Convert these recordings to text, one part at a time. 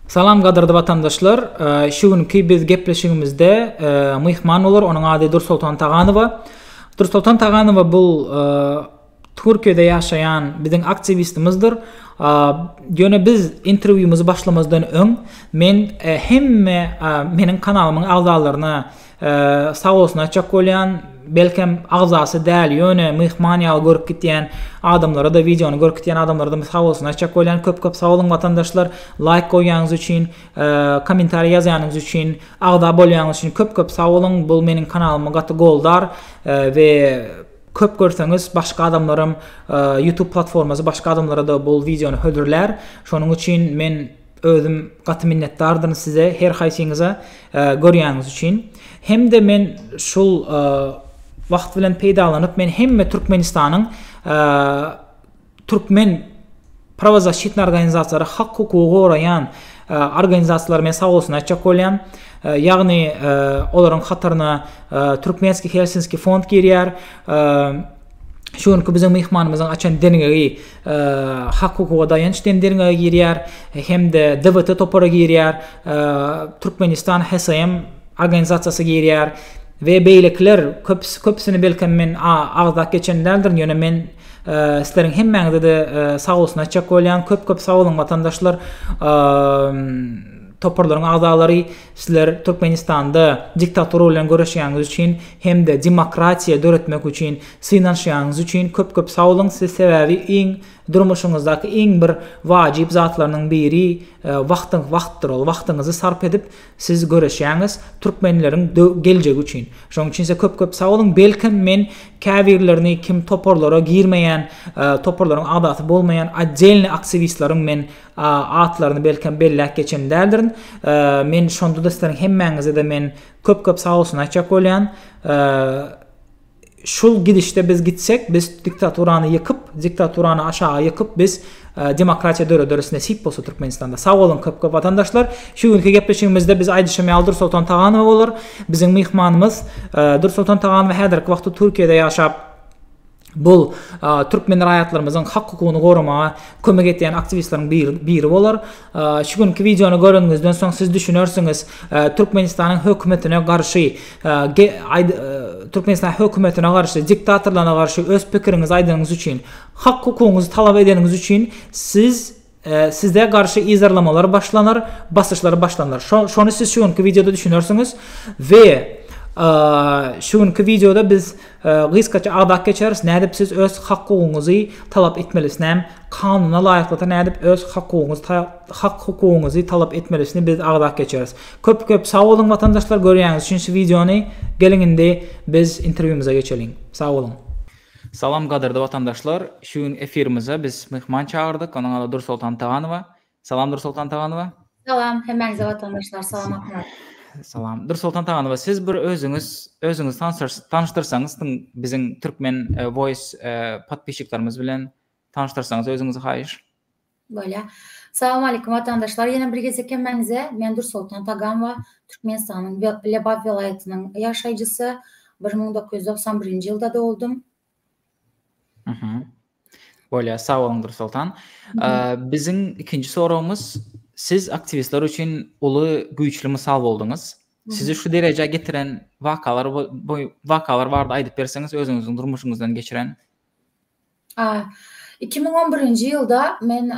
Salam gadyrdy watandaşlar. Şu günki biz gepleşigimizde myhman bolar, onuň ady Dursoltan Taganowa. Dursoltan Taganowa bul Türkiýede ýaşaýan biziň aktiwistimizdir. Ýöne biz interwýumyzy başlamazdan öň men hemme meniň kanalymyň agzalaryna Sag bolsun aýtjak bolýan, belkem agzasy däl, ýöne myhman ýaly görüp gitýän adamlara-da, wideony görüp gitýän adamlara-da men sag bolsun aýtjak bolýan. Köp-köp sag boluň watandaşlar, laýk goýýanyňyz üçin, kommentariý ýazýanyňyz üçin, agza bolýanyňyz üçin köp-köp sag boluň. Bu meniň kanalymy gaty goldar we köp görseňiz başga adamlaram YouTube platformasy başga adamlara-da bu wideony hödürlär. Şonuň üçin men Özüm gaty minnetdardyryn size her haýsyňyza görýäniňiz üçin. Hemde men şul wagt bilen peýdalanyp men hemme Türkmenistanyň türkmen prawozasşitny organizasiýalary hak hukugy goraýan organizasiýalary men sag bolsun aýtjak bolýan. Ýagny olaryň hataryna Türkmenski Helsinski fond girýär. Şu günki biziň myhmanymyzyň açan derňegi Hak-hukuga daýanç diýen derňewe girýär hem-de DBT topary girýär, Türkmenistan HSM organizasiýasy girýär we beýlekiler köpüsi, köpüsini belkem men agzap geçen däldirin, ýöne men sizleriň hemmäňize-de sag bolsun aýtjak bolýan, köp-köp sag boluň watandaşlar, toparlaryň agzalary, sizler Türkmenistanda diktatura bilen göreşýäňiz üçin hem-de demokratiýa döretmek üçin Synanyşýanyňyz üçin köp köp sag boluň siz sebäbi iň durmuşyňyzdaky iň bir wajyp zatlarynyň biri wagtyň wagtdyr ol wagtyňyzy sarp edip siz göreşýäňiz türkmenleriň geljegi üçin şoň üçin size köp köp sag boluň belkem men käbirlerini kim toparlara girmeýän toparlaryň agdasy bolmaýan oddelny aktiwistleriň men atlaryny belkem belläp geçen däldirin men şondada sizleriň hemmäňize de men köp köp sag bolsun aýtjak bolýan. Şul gidişde biz gitsek, biz diktaturany ýykyp, diktaturany aşaga ýykyp biz demokratiýa dörederis nesip bolsa Türkmenistanda. Sag boluň köp köp watandaşlar. Şu günki gepleşigimizde biz aýdyşym ýaly Dursoltan Taganowa bolar. Biziň myhmanymyz Dursoltan Taganowa häzirki wagtda Türkiýede ýaşap bu Türkmen raýatlarymyzyň hak hukugyny goramaga kömek etýän aktiwistleriň biri bolar. Şu günki wideony göreniňizden soň siz düşünersiňiz, Türkmenistanyň hökümetine garşy, Türkmenistanyň hökümetine garşy, diktatorlaryna garşy öz pikiriňizi aýdanyňyz üçin, hak-hukugyňyzy talap edeniňiz üçin siz size garşy yzarlamalar başlanar, basyşlar başlanar. Şony siz şu günki wideoda düşünersiňiz we şu günki wideoda biz Gysgaça agzap geçeris nädip siz öz hak-hukugyňyzy talap etmelisinem kanuna laýyklykda nädip öz hak-hukugyňyzy hak hukugyňyzy talap etmelisini biz agzap geçeris. Köp köp sag boluň watandaşlar görýäňiz üçin şu wideony geliň indi biz interwýumyza geçeliň. Sag boluň. Salam gadyrdy watandaşlar şu gün efirimize biz myhman çagyrdyk onuň ady Dursoltan Taganowa Salam Dursoltan Taganowa. Salam, hemmäňize watandaşlar, salamatmy? Salam. Dursoltan Taganowa, siz bir özüňiz, özüňizi tanyşdyrsaňyz, tyn biziň Türkmen e, Voice e, podpisçiklerimiz bilen tanyşdyrsaňyz özüňizi haýyş. Bolýar. Salam aleyküm watandaşlar. Ýene bir gezek hemmäňize men Dursoltan Taganwa, Türkmenistanyň Lebap welaýatynyň ýaşaýjysy. 1991-nji ýylda doguldym. Bolýar, sag boluň Dursoltan. Biziň ikinji soragymyz, siz aktiwistler üçin uly, güýçli mysal bolduňyz. Sizi şu derejä getiren wakalar wakalar barada aýdyp berseňiz, özüňiziň durmuşyňyzdan geçiren? Iki müň on birinji ýylda men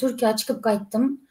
Türkiýä çykyp gaýtdym.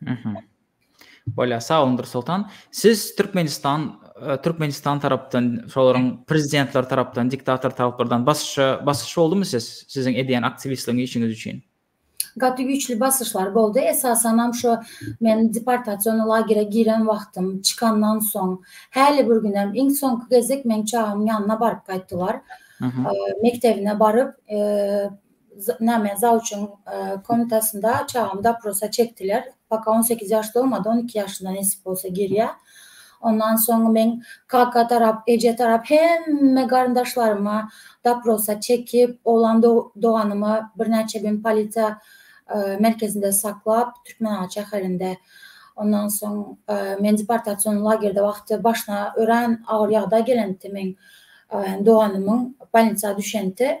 Mhm. Bolýar, sag boluň Dursultan. Siz Türkmenistan e, Türkmenistan tarapdan, şolaryň prezidentler tarapdan, diktator taraplardan basyşa basyş boldumy siz siziň edýän aktiwistligiň işiňiz üçin? gaty güýçli basyşlar boldy. Esasan hem şu men deportasiýon lagere giren wagtym çykandan soň häli bir gün hem iň soňky gezek meň çagamyň ýanyna baryp gaýtdylar. Mekdebine baryp, e, Näme, zawçyň komnatasynda çagamy doprosa çekdiler. Poka on sekiz ýaş dolmady, on iki ýaşyna nesip bolsa girýär. Ondan soň men kaka tarap, eje tarap hemme garyndaşlaryma doprosa çekip, oglan doganymy birnäçe gün polisiýa merkezinde saklap, Türkmenabat şäherinde. Ondan soň men deportasion lagerde wagty başyna örän agyr ýagdaý gelenti meň doganymyň bolnisa düşenti.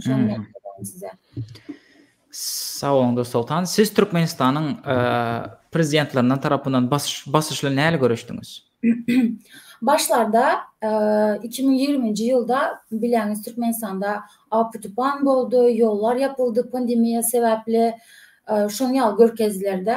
Şonda size. Sag boluň Dursoltan. Siz Türkmenistanyň e, prezidentlerinden tarapyndan basyşly näle görüşdüňiz? Başlarda 2020-nji e, ýylda biläňiz Türkmenistanda apy-tupan boldy, ýollar ýapyldy pandemiýa sebäpli, e, şoň ýaly görkezdiler-de.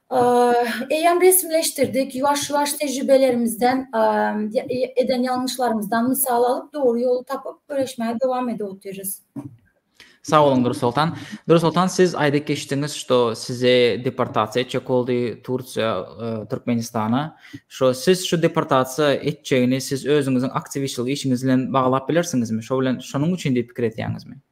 Eýýäm resmileşdirdik. Ýuwaş-ýuwaş tejribelerimizden, eden ýalňyşlarymyzdan mysal alyp, dogry ýoly tapyp, göreşmäge dowam edip otyrys. Sag boluň, Dursoltan. Dursoltan, siz aýdyp geçdiňiz, şo sizi deportasiýa etjek boldy Tursiýa, Türkmenistana. Şo siz şu deportasiýa etjegini siz özüňiziň aktiwistçilik işiňiz bilen baglap bilersiňizmi? Şo bilen, şonuň üçin diýip pikir edýäňizmi?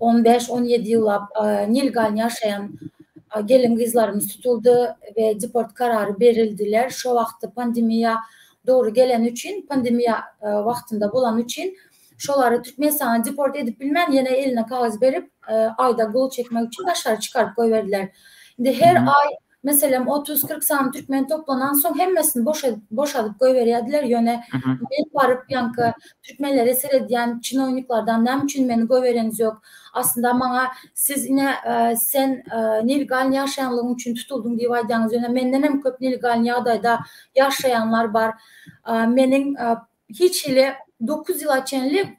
On bäş, on ýedi ýyllap nilgal ýaşaýan gelin-gyzlarymyz tutuldy we deport karary berildiler. Şo wagty pandemiýa dogry geleni üçin, pandemiýa wagtynda bolany üçin şolary Türkmenistana deport edip bilmän, ýene eline kagyz berip, aýda gol çekmek üçin daşary çykaryp goýberdiler. Indi her aý meselem, otuz-kyrk sany türkmeni toplanansoň, hemmesini boşadyp goýberýärdiler. Ýöne men baryp, ýaňky türkmenlere seredýän çinowniklardan, Näme üçin meni goýbereňiz ýok? Aslynda maňa siz ine, sen nelegalny ýaşaýanlygyň üçin tutuldyň diýip aýdýaňyz, ýöne mendenem köp nelegalny ýagdaýda ýaşaýanlar bar. Meniň hiç hili dokuz ýyla çenli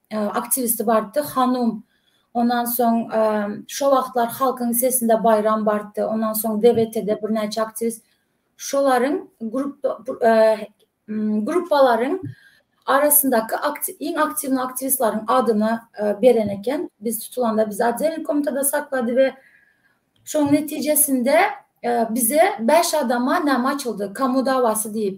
aktiwisti bardy hanum ondan soň şo wagtlar halkyň sesinde baýram bardy ondan soň debetede birnäçe aktiwist şolaryň gruppalaryň arasyndaky iň aktiwny aktiwistleriň adyny beren eken biz tutulanda bizi otdel komitada saklady we şoň netijesinde bize bäş adama näme açyldy kamu dawasy diýip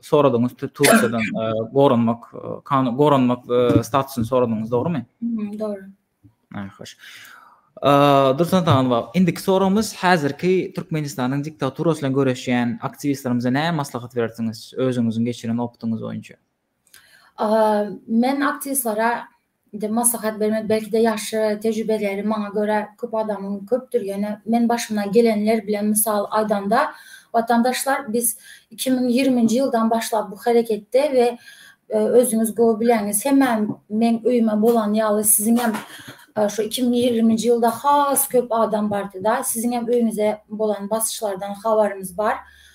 soradyňyz Türkiýeden goranmak kanun goranmak statusyny soradyňyz dogrumy? Dogry. Ha hoş. Dursun Tagan bak. Indiki sorumuz häzirki Türkmenistanyň diktaturasy bilen göreşýän aktiwistlerimize näme maslahat berersiňiz özüňiziň geçiren opdyňyz boýunça? Men aktiwistlara indi maslahat bermek belki-de ýaşy, tejribeleri maňa görä köp adamyň köpdür, ýöne men başymdan gelenler bilen mysal aýdanda, watandaşlar biz iki müň ýigriminji ýyldan başlap bu hereketde we özüňiz gowy bilýäňiz, hemmäň meň öýüme bolan ýaly siziň hem şu iki müň ýigriminji ýylda has köp adam bardy-da, siziň hem öýüňize bolan basyşlardan habarymyz bar.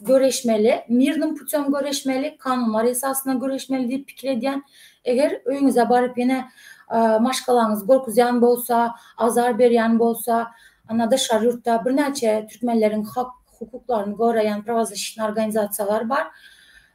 göreşmeli, mirnim putem göreşmeli, kanunlar esasyna göreşmeli diýip pikir edýän. Eger öýüňize baryp ýene maşgalaňyzy gorkuzýan bolsa, azar berýän bolsa, ana daşary ýurtda birnäçe türkmenleriň hak hukuklaryny goraýan prawazlaşitnýa organizasiýalar bar.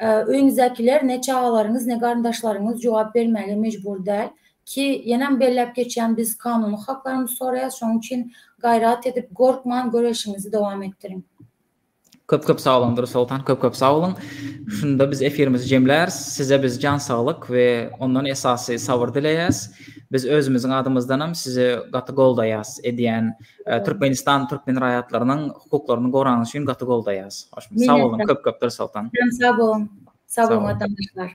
Öýüňizdäkiler, ne çagalaryňyz, ne garyndaşlaryňyz jogap bermäge mejbur däl. Ki, ýenem belläp geçýän, biz kanuny haklarymyzy soraýas, şonuň üçin gaýrat edip, gorkman göreşiňizi dowam etdiriň. Köp köp sag boluň Durus Soltan köp köp sag boluň. Şunda biz efirimizi jemläris. Size biz jan saglyk we ondan esasy sabyr dileýäs. Biz özümiziň adymyzdanam sizi gaty goldaýas edýän Türkmenistan türkmen raýatlarynyň hukuklaryny gorany üçin gaty goldaýas. Sag boluň köp köp Dursaltan. Sag boluň. Sag boluň watandaşlar.